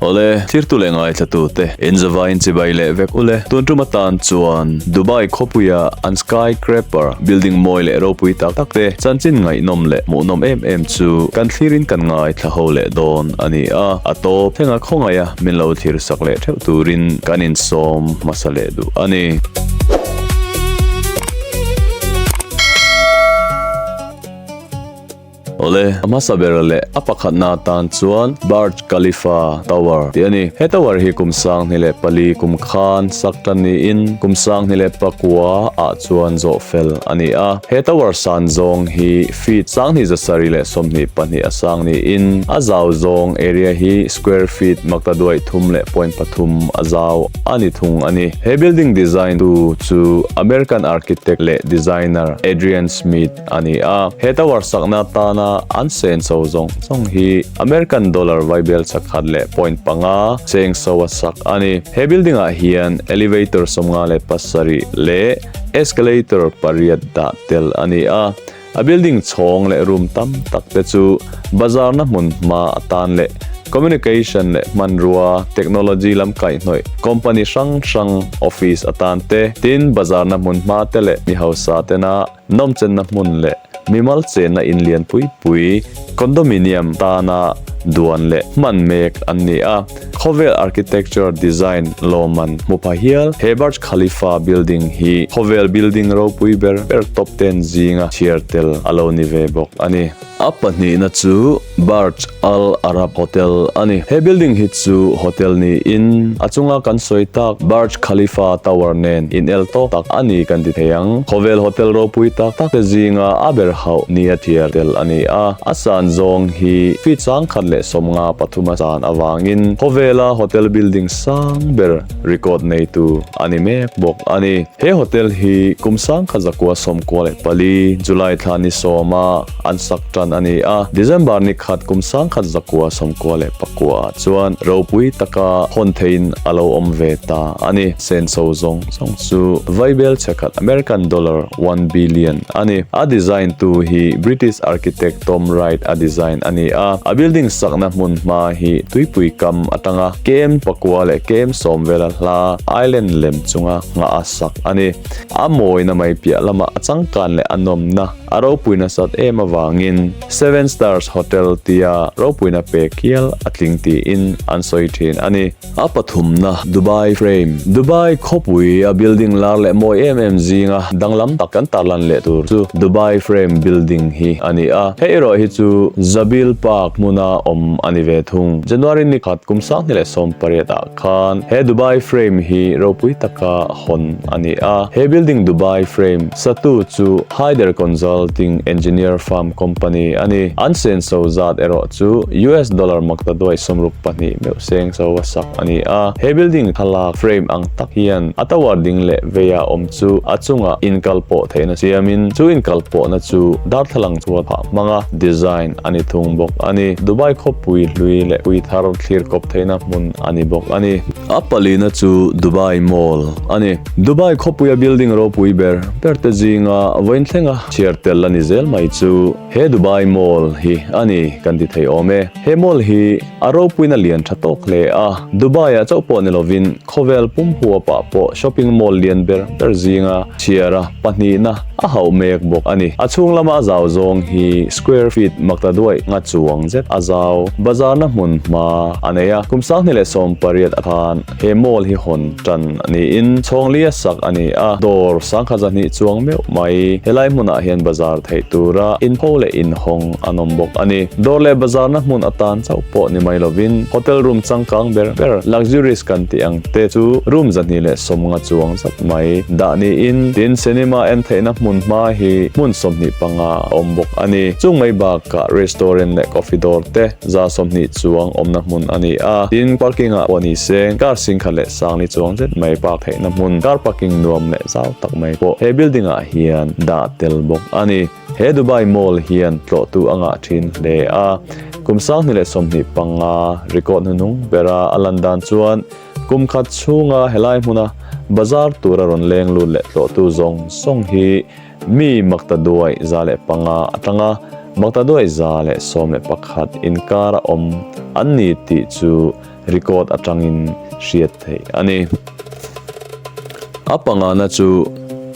Awle, thirtu leh ngaithlatu te, inzava in chibai leh vek u le. Tun tuma tan chuan Dubai khawpuia an Sky Crapper building mawi leh ropui tak tak te chanchin ngaihnawm leh hmuhnawm em em chu kan thlir in kan ngaithlaho leh dawn a ni a. A tawp thlenga khawngaih a min lo thlir sak leh theuh turin kan insawm hmasa leh duh a ni. Awle, a hmasa ber leh a pakhatna atan chuan Burj Khalifa Tower tih a ni. He tower hi kum sanghni leh pali kum khan sak tan niin kum sanghni leh pakua ah chuan zawh fel a ni a. He tower san zawng hi feet, sanghni zasari leh sawmhnih pahnih a sang niin a zau zawng, area, hi square feet, maktaduai thum leh point pathum a zau. A ni thung a ni. He building design tu chu American architect leh designer Adrian Smith a ni a. He tower sakna atana an sen so zawng zawng hi American dollar vaibel chakhat leh point panga cheng so a sak a ni. He building ah hian elevator sawmnga leh pasarih leh escalator pariat dah tel a ni a. A building chhawng leh room tam tak te chu bazarna hmun hma atan leh communication leh hmanrua, technology lam kaihnawih company hrang hrang office atan te, tin bazarna hmun hma te leh mi hausa tena nawmchenna hmun leh mimal chenna in lian pui pui, condominium, tana duan leh hman mek an ni a. Khawvel Architecture Design Lawman hmuphah hial he Burj Khalifa Building hi khawvel building ropui ber ber top ten zinga chhiar tel a lo ni ve bawk a ni. A pahnihna chu Burj Al Arab Hotel a ni. He building hi chu hotel niin a chunga kan sawi tak Burj Khalifa Tower nen inel tawk tak a ni kan ti thei ang. Khawvel hotel ropui tak tak te zinga a ber hauh nia chhiar tel a ni a. A san zawng hi feet sangkhat leh sawmnga pathuma san. avangin khawvela hotel building sang ber record neitu a ni mek bawk a ni. He hotel hi kum sangkhat zakua sawmkua leh pali, July thla ni sawma an sak tan a ni a, December ni khat kum sangkhat zakua sawmkua leh pakua ah chuan ropui taka hawn theiin a lo awm ve ta a ni. Senso zawng. Chhawng chu Vaibel che khat American dollar one billion a ni. A design tu hi British architect Tom Wright a design a ni a. A building sakna hmun hma hi tuipui kam atanga km pakua leh km sawmvela hla island lem chunga nghah a sak a ni. A mawina mai piah lama a changkan leh a nawmna a ropui nasat em avangin Seven Stars Hotel tia ropuina pe kial a tling tiin an sawi thin a ni. A pathumna, Dubai Frame, Dubai khawpui a building lar leh mawi em em zinga danglam tak kan tarlan leh tur chu Dubai Frame building hi a ni a, hei erawh hi chu Zabeel Park hmuna awm a ni ve thung. January ni khat kum sanghnih leh sawm pariat ah khan he Dubai Frame hi ropui taka hawn a ni a, he building Dubai Frame satu chu Haider Consulting Engineer Farm Company a ni. An senso zat erawh chu US dollar maktaduai sawmruk pahnih meuh sawm. Seng so a sak a ni a. He building thlalak frame ang tak hian a tower ding leh veiah awm chu a chungah inkal pawh theihna siamin chu inkal pawhna chu darthlalang chhuat phah hmanga design a ni thung bawk a ni. Dubai khawpui hlui leh pui thar thlir kawp theihna hmun a ni bawk a ni. A palina chu Dubai Mall a ni. Dubai khawpuia building ropui ber berte zinga vawiin thlenga chhiar tel a ni zel mai chu he Dubai Mall hi a ni kan ti thei awm e. He mall hi a ropuin a lian tha tawk hle a, Dubai-ah chauh pawh ni lovin khawvel pumhuapah pawh shopping mall lian ber ber zinga chhiara pahnihna a hauh mek bawk a ni. A chhung lama a zau zawng hi square feet makta duai nga chuang zet a zau. Bazarna hmun hma a nei a, kum sangni leh sawmpariat a khan. He mall hi hawn tan niin chhawnglia sak a ni a, dawr sangkhat zahnih chuang meuh mai. Helai hmunah hian bazar theih tura inpho leh inhawng an awm bawk a ni. Dawr leh bazarna hmun a tan chauh pawh ni mai lovin hotel room changkang ber ber, luxurious kan tih ang te chu room zahnih leh sawmnga chuang zat mai dah niin tin cinema en theihna hmun hma hi hmun sawmhnih panga a awm bawk a ni. Chung mai bakah restaurant leh coffee dawr te, Za sawmhnih chuang awmna hmun a ni a, tin parking ah pawh ni se, car sing khat leh sangli chuang zet mai park theihna hmun, car parking nuam leh zau tak mai pawh he building ah hian dah tel bawk a ni. He Dubai Mall hian tlawhtu a ngah thin hle a, kum sanghnih leh sawmhnih panga record hnuhnung bera a lan dan chuan kum khat chhunga helai hmuna bazar tura rawn leng lut leh tlawhtu zawng zawng hi Mi Maktaduai za leh panga a tlang a, Maktaduai za leh sawm leh pakhat inkar a awm an ni tih chu record atangin hriat theih a ni. A pangana chu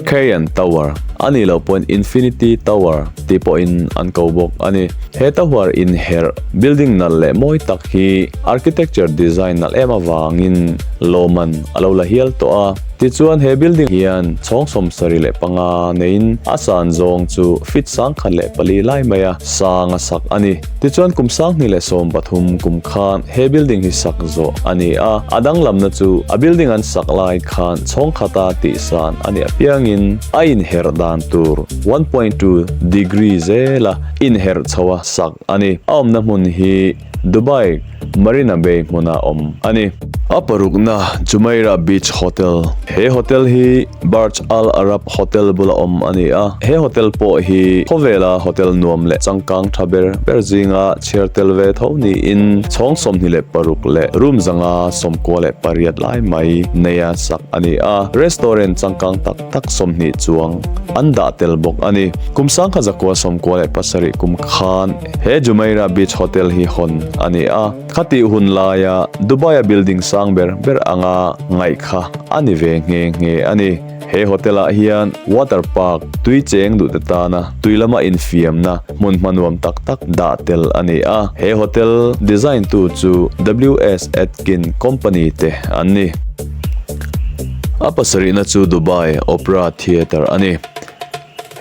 Kayan Tower a nih loh pawhin Infinity Tower tih pawhin an ko bawk a ni. He Tower inherh building nalh leh mawi tak hi architecture design nalh em avangin lawmman a lo la hial tawh a. Tichuan, he building hian chhawng sawmsarih leh panga neiin a san zawng chu feet sang khat leh pali lai mai a sang a sak a ni. Tichuan, kum sanghnih leh sawm pathum kum khan he building hi sak zawh a ni a, a danglamna chu a building an sak lai khan chhawng khata tih san a ni apiangin a inherh dan tur one point two degree zela inherh chhoa sak a ni. A awmna hmun hi. Dubai Marina Bay hmuna awm a ni. A parukna Jumeirah Beach Hotel. He hotel hi Burj Al Arab Hotel bula awm a ni a, he hotel pawh hi khawvela hotel nuam leh changkang tha ber ber zinga chhiar tel ve tho niin chhawng sawmhnih leh paruk leh room zanga sawmkua leh pariat lai mai neia sak a ni a. Restaurant changkang tak tak sawmhnih chuang an dah tel bawk a ni. Kum sangkha zakua sawmkua leh pasarih kum khan. He Jumeirah Beach Hotel hi hawn a ni a, khatih hun laia Dubai-a building sang ber ber anga ngaih kha a ni ve nge nge a ni. He hotel-ah hian water park, tui cheng duhte tana tui lama infiamna hmun hmanuam tak tak dah tel a ni a. He hotel design tu chu WS Atkin Company te an ni. A pasarihna chu Dubai Opera Theatre a ni.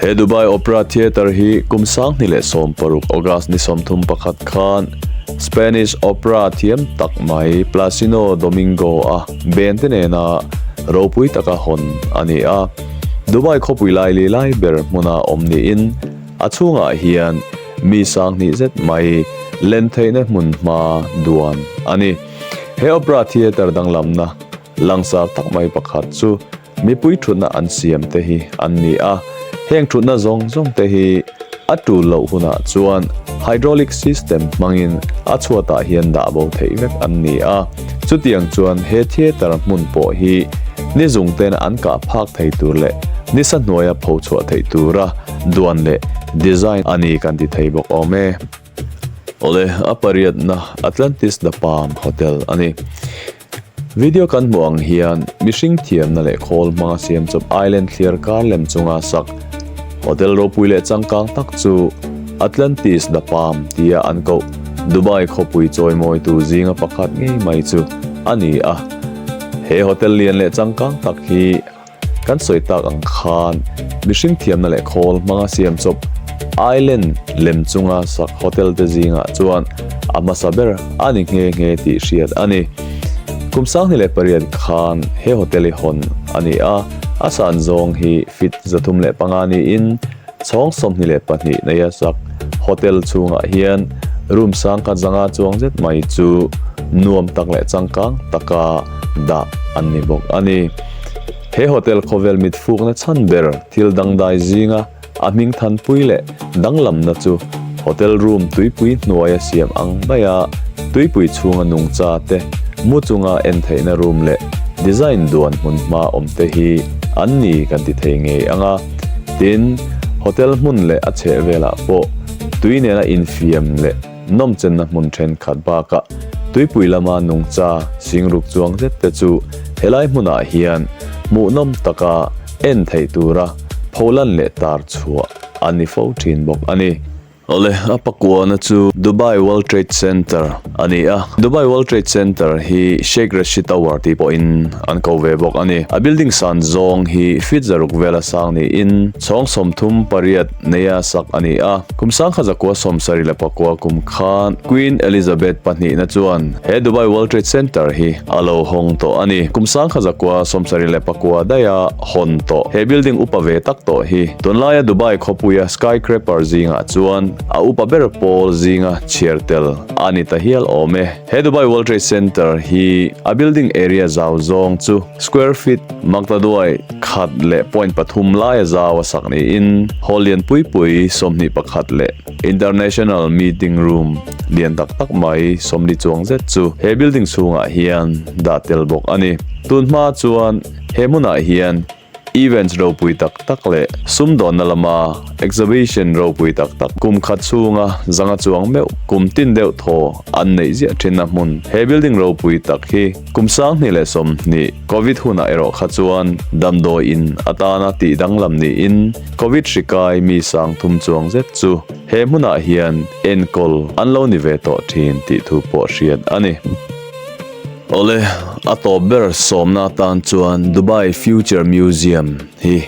He Dubai Opera Theatre hi kum sanghni leh sawm paruk, August ni sawmthum pakhat khan Spanish opera thiam tak mai Plácido Domingo-a bente nena ropui taka hawn a ni a. Dubai khawpui lai li lai ber hmuna awm niin a chhungah hian mi sanghnih zet mai len theihna hmun hma duan a ni. He opera theatre danglamna langsar tak mai pakhat chu, Mipui thutna an siam te hi an ni a, heng thutna zawng zawng te hi a tul loh hunah chuan hydraulic system hmangin a chhuatah hian dah bo theih vek an ni a, chutiang chuan he theater hmun pawh hi nizungten an kah phak thei tur leh nisa hnuaia pho chhuah theih tura duan leh design a ni kan ti thei bawk awm e. Awle, a pariatna Atlantis The Palm Hotel a ni. Video kan hmuh ang hian mihring thiamna leh khawl hmanga siam chawp island thliar kar lem chunga sak hotel ropui leh changkang tak chu Atlantis The Palm tia an koh Dubai khawpui chawimawi tu zinga pakhat ngei mai chu a ni a. He hotel lian leh changkang tak hi Kan sawi tak ang khan mihring thiamna leh khawl hmanga siam chawp Island lem chunga sak hotel te zingah chuan a hmasa ber a ni nghe nghe tih hriat a ni. Kum sanghnih leh pariat khan he hotel hi hawn a ni a, a san zawng hi feet zathum leh panga niin, Chhawng sawmhnih leh pahnih nei a sak hotel chhungah hian room sang khat zanga chuang zet mai chu nuam tak leh changkang taka dah an ni bawk a ni. He hotel khawvel mitfukna chhan ber thil dangdai zinga a hming thanpui leh danglamna chu hotel room tuipui hnuaia siam ang mai a, tuipui chhunga nungcha te, mu chunga en theihna room leh design duan hmun hma awmte hi an ni kan ti thei ngei ang a. Tin, hotel hmun leh a chhehvelah pawh tui nena infiam leh nawmchenna hmun thenkhat bakah tuipui lama nungcha sing ruk chuang zet te chu helai hmunah hian hmuhnawm taka en theih tura pholan leh tar chhuah a ni fo thin bawk a ni. Awle, a pakuana chu Dubai World Trade Center a ni a. Dubai World Trade Center hi Sheikh Rashid Tower tih pawhin an ko ve bawk a ni. A building san zawng hi fit zaruk vel a sang niin chhawng sawm thum pariat neia sak a ni a. Kum sangkha zakua sawm sarih leh pakua kum kha Queen Elizabeth pahnihna chuan he Dubai World Trade Center hi a lo hawng tawh a ni. Kum sangkha zakua sawm sarih leh pakua daih a hawn tawh. He building upa ve tak tawh hi tunlaia Dubai khawpuia Skycraper zingah chuan a upa ber pawl zinga chhiar tel a ni ta hial awm e. He Dubai World Trade Center hi a building area zau zawng chu square feet makta duai khat leh point pathum laia zau a sak niin hall lian pui pui sawmhnih pakhat leh international meeting room lian tak tak mai sawmli chuang zet chu he building chhungah hian dah tel bawk a ni. Tunhma chuan. He hmunah hian events ropui tak tak leh sumdawnna lama exhibition ropui tak tak, kum khat chhunga zanga chuang meuh, kum tin deuh thaw an neih ziah thinna hmun. He building ropui tak hi kum sanghnih leh sawmhnih Covid hunah erawh kha chuan damdawiin a tan a tih danglam niin Covid hri kai mi sang thum chuang zet chu he hmunah hian enkawl an lo ni ve tawh thin tih thu pawh hriat a ni. Awle, a tawp ber sawmna atan chuan Dubai Future Museum hi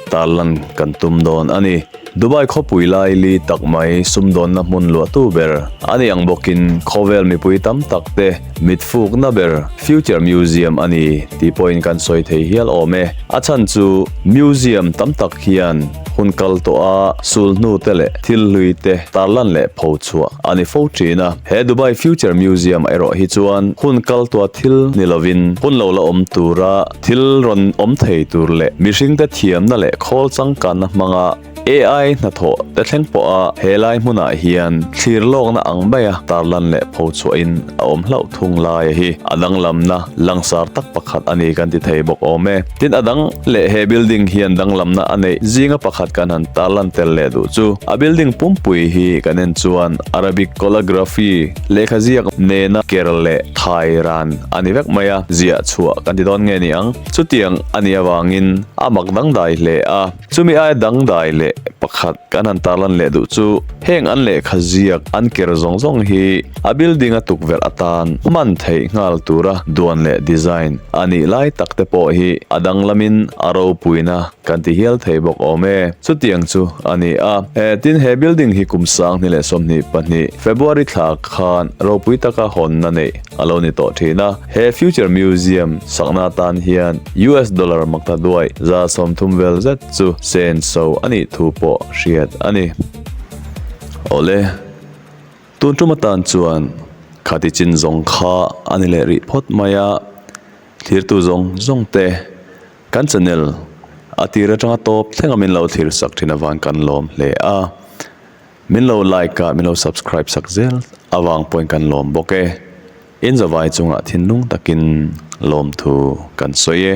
tar lan kan tum dawn a ni. Dubai khawpui lai li tak mai sumdawnna hmun luahtu ber a ni ang bawkin khawvel mipui tam tak te mitfukna ber Future Museum a ni tih pawhin kan sawi thei hial awm e. A chhan chu museum tam tak hian Hun kal tawh a sul hnu te leh thil hlui te tar lan leh pho chhuah a ni fo thin a. He Dubai Future Museum erawh hi chuan hun kal tawh thil ni lovin hun lo la awm tura thil rawn awm thei tur leh mihring te thiamna leh khawl changkanna hmanga AI hnathawh te thleng pawh a he lai hmunah hian thlir lawkna ang maia tar lan leh pho chhuah in a awm hlauh thung lai a hi a danglamna Langsar tak pakhat a ni kan ti thei bawk awm e. Tin, a dang leh he building hian danglamna a neih zinga pakhat kan han tar lan tel leh duh chu, a building pumpui hi kan en chuan Arabic calligraphy, lehkha ziak nena ker leh thai ran a ni vek mai a, ziah chhuah kan ti dawn nge ni ang. Chutiang a nih avangin a mak dangdai hle a. Chumi aia dangdai leh pakhat kan han tarlan leh duh chu heng an lehkha ziak an ker zawng zawng hi a building a tukverh atan hman theih nghal tura duan leh design a nih lai tak te pawh hi a danglamin a ropuina kan ti hial thei bawk awm e. Chutiang chu a ni a, tin he building hi kum sanghni leh sawmhnih pahnih February thlak khan ropui taka hawnna neih A lo ni tawh thin a, he Future Museum sakna atan hian US dollar makta duai za sawm thum vel zet chu sen so a nih thu pawh hriat a ni. Awle, tun tum atan chuan khati chin zawng kha a ni leh rih phawt mai a, thlirtu zawng zawng te kan chanel a tir atanga tawp thleng a min lo thlir sak thin avan kan lawm hle a. Min lo like a min lo subscribe sak zel avang pawhin kan lawm bawk e. Inzavai chungah thinlung takin lawmthu kan sawi e.